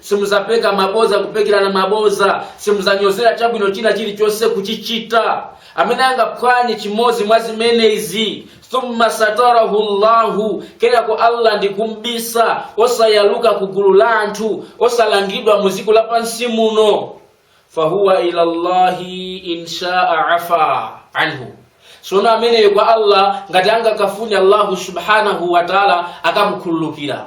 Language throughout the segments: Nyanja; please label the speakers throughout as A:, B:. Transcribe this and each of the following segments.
A: Simudzapeka mabodza, kupekerana mabodza. Simudzanyozera chabwino china chilichonse, kuchichita. Amene angaphwanye chimodzi mwa zimenezi, thumma satarahu Allahu, kenako Allah ndikum'bisa, osayaluka ku gulu la anthu, osalangidwa mu dziko lapansi muno, fahuwa ila Allahi insha'a afa anhu. Sono ameneyo kwa Allah ngati angakafune Allahu subhanahu wa ta'ala akamukhululukira.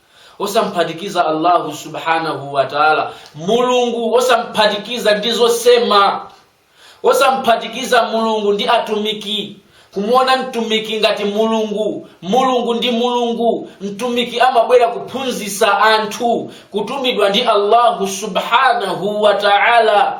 A: osamphatikiza allahu subhanahu wataala mulungu osamphatikiza ndi zosema osamphatikiza mulungu ndi atumiki kumuona mtumiki ngati mulungu mulungu ndi mulungu mtumiki amabwera kuphunzitsa anthu kutumidwa ndi allahu subhanahu wataala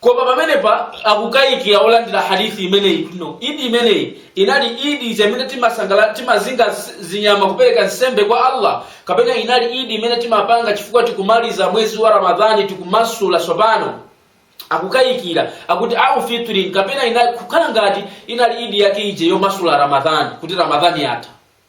A: koma pamenepa akukayikira olandira hadithi imeneyi no idi imeneyi inali idi ija imene timazinga zinyama kupereka nsembe kwa allah kapena inali idi imene timapanga chifukwa tikumaliza mwezi wa ramadhani tikumasula tsopano akukayikira akuti au fitrin kapena inali kukhala ngati inali idi yake ije yomasula ramadhani kuti ramadhani yatha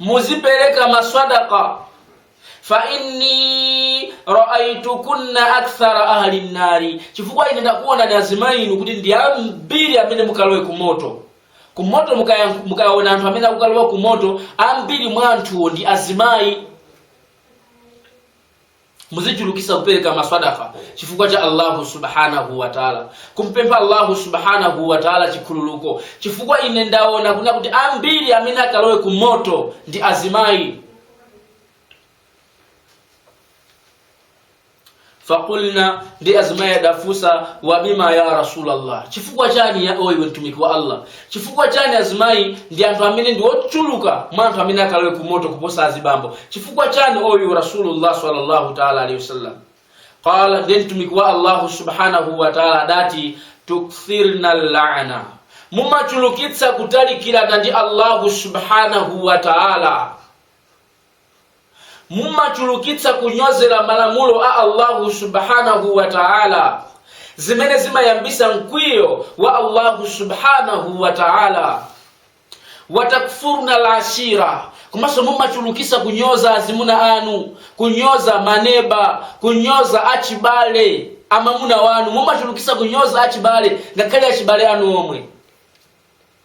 A: muzipereka maswadaka fa inni raaitukunna akthara ahli nnari chifukwa ine ndakuonani azimayi inu kuti ndi ambiri amene mukalowe ku moto ku moto mukaona anthu amene akukalowa ku moto ambiri mwa anthuwo ndi azimayi muzichulukisa kupereka maswadaka chifukwa cha allahu subhanahu wataala kumpempha allahu subhanahu wataala chikhululuko chifukwa ine ndaona kuna kuti ambiri amene akalowe ku moto ndi azimayi fakulna ndi azimayi adafunsa wabima ya rasulallah chifukwa chani ya oyiwe mtumiki wa allah Chifukwa chani azimayi ndi anthu amene ndi ochuluka mwa anthu amene akalowe ku moto kuposa azibambo? Chifukwa chani oyu Rasulullah sallallahu ta'ala alayhi wasallam? Qala nde mtumiki wa Allahu subhanahu wa ta'ala adati tukthirna la'na. Mumachulukitsa kutalikirana ndi Allahu subhanahu wa ta'ala. mumachulukitsa kunyozera malamulo a allahu subhanahu wa taala zimene zimayambisa mkwiyo wa allahu subhanahu wa taala watakfurna lashira komanso mumachulukisa kunyoza azimuna anu kunyoza maneba kunyoza achibale amamuna wanu mumachulukisa kunyoza achibale ngakhale achibale anu omwe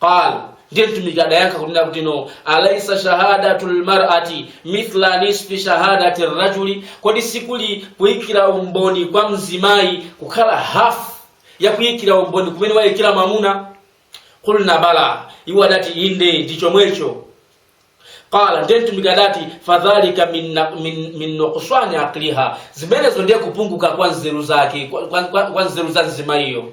A: qal ndiye mtumiki adayankha kunena kutino alaisa shahadatu lmarati mithla nisfi shahadati rajuli kodi sikuli kuyikira umboni kwa mzimayi kukhala hafu yakuyikira umboni kumene waikira mamuna qulna bala iwo adati inde ndi chomwecho qala ndiye mtumiki adati fadhalika min na- min- min nuqsani aqliha zimenezo ndiye kupunguka kwa nzeru zake kwa- kwa kwa- kwa nzeru za mzimayiyo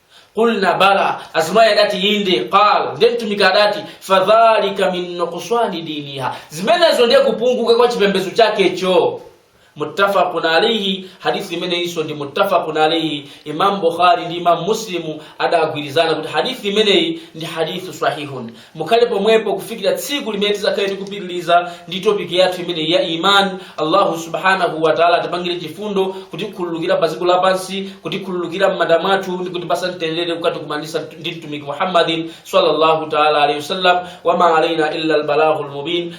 A: qulna bala azimayi adati inde qal ndiye mtumiki adati fadhalika min nuqsani diniha zimenezo ndiye kupunguka kwa chipembedzo chake cho muttafaqun alayhi hadithi imeneyinso ndi muttafaqun alayhi imam bukhari ndi imam muslimu adagwirizana kuti hadithi imeneyi ndi hadithu sahihun Mukhale pomwepo kufikira tsiku limene tizakhale tikupitiliza ndi topic yathu imeneyi ya iman. Allahu subhanahu wa ta'ala atipangire chifundo kutikhululukira pa dziko lapansi, kutikhululukira m'manda mwathu ndi kutipasa mtendere kukatikumanisa ndi mtumiki Muhammadin sallallahu ta'ala alaihi wasallam. Wa ma alaina illa albalaghul mubin.